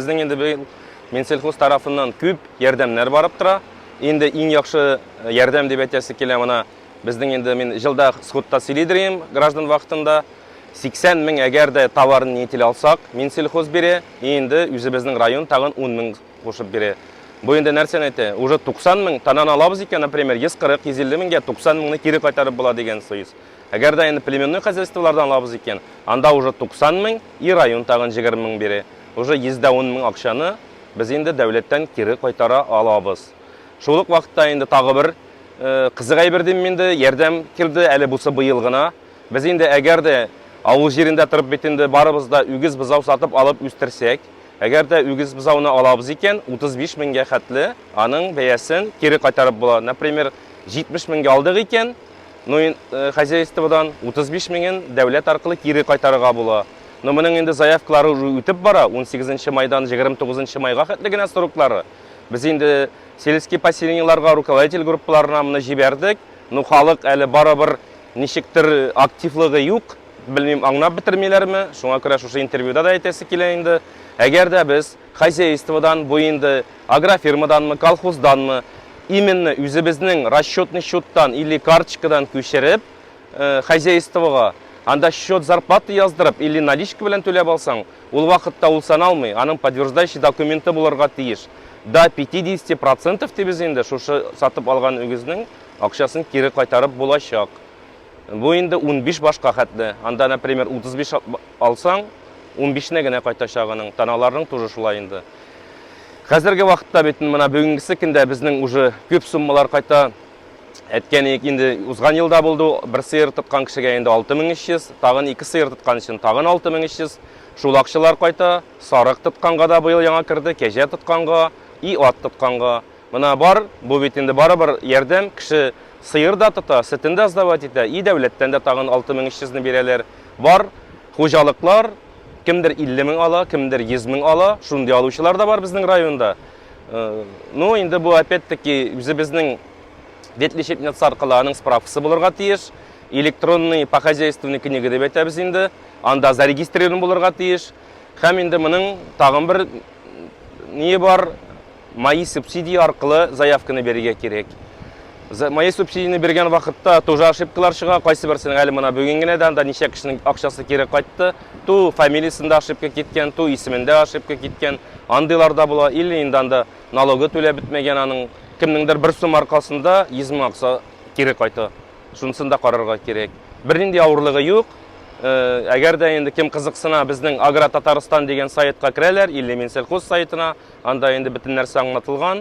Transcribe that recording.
Безнең инде быел Минсельхоз тарафыннан күп ярдәмнәр барып тора. Инде иң яхшы э, ярдәм дип әйтәсе килә моны. Безнең инде мин җылда сходта сөйлидерим граждан вакытында. 80 мең әгәр дә товарны нетел алсак, Минсельхоз бирә, инде үзебезнең район тагын 10 мең кушып бирә. Бу инде нәрсәне әйтә? Уже 90 мең танан алабыз икән, например, 140-150 меңгә 90 меңне кире кайтарып була дигән сүз. Әгәр дә инде племенной хозяйстволардан алабыз икән, анда уже 90 мең и район тагын 20 мең бирә. Уже 100 дә ун мең акчаны без инде дәүләттән кире кайтара алабыз. Шул ук вакытта инде тагы бер кызык әйбер дим инде, ярдәм килде, әле бусы быел гына. Без инде әгәр дә авыл җирендә торып бит инде барыбыз да үгез бозау сатып алып үстерсәк, әгәр дә үгез бозауны алабыз икән, 35 меңгә хәтле аның бәясен кире кайтарып була. Например, 70 меңгә алдык икән, ну хозяйстводан 35 меңен дәүләт аркылы кире кайтарырга була. Но моның инде заявкалары уже үтеп бара, 18 майдан 29 майга хәтле генә сроклары. Без инде сельский поселениеларга руководитель группаларына моны җибәрдек. Ну халык әле барыбер ничектер активлыгы юк. Белмим, аңнап бетермиләрме? Шуңа күрә шушы интервьюда да әйтәсе килә инде. Әгәр дә без хозяйстводан, бу инде агрофирмаданмы, колхозданмы, именно үзебезнең расчетный счеттан или карточкадан күчереп, хозяйствога, анда счет зарплаты яздырып или наличка белән түләп алсаң, ул вакытта ул саналмый, аның подтверждающий документы булырга тиеш. До 50 процентов дибез инде, шушы сатып алган үгезнең акчасын кире кайтарып булачак. Бу инде 15 башка хәтле. Анда, например, 35 алсаң, 15 не генә кайтачак аның. Таналарның тоже шулай инде. Хәзерге вакытта бит менә бүгенгесе көндә безнең уже күп суммалар кайта. әйткәнек инде узган елда булды бер сыер тоткан кешегә инде 6300 тагын ике сыер тоткан өчен тагын 6300 шул акчалар кайта сарык тотканга да быел яңа керде кәҗә тотканга и ат тотканга мына бар бу бит инде барыбер ярдәм кеше сыер да тота сөтен дә сдавать итә и дәүләттән дә тагын 6300 ны бирәләр бар хуҗалыклар кемдер 50 мең ала кемдер 100 мең ала шундый алучылар да бар безнең районда Ну, инде бу опять-таки үзебезнең ветлечеб нацаркаларының справкасы булырга тиеш. Электронный по хозяйственной книга дип әйтәбез инде. Анда зарегистрирован булырга тиеш. Хәм инде моның тагын бер не бар, мои субсидии аркылы заявканы бирергә кирәк. За мои субсидияне биргән вакытта тоже ошибкалар чыга. Кайсы берсенең әле мына бүген генә дә анда ничә кешенең акчасы кире кайтты. Ту фамилиясендә ошибка киткән, ту исемендә ошибка киткән. Андыйлар да була. Или инде анда налогы түләп бетмәгән аның. Кемнеңдер бер сумма аркасында 100 мең акча кире кайта. Шунысын да карарга кирәк. Бернинди авырлыгы юк. Э, әгәр дә инде кем кызыксына, безнең Агро Татарстан дигән сайтка керәләр, или Минсельхоз сайтына, анда инде бөтен нәрсә аңлатылган.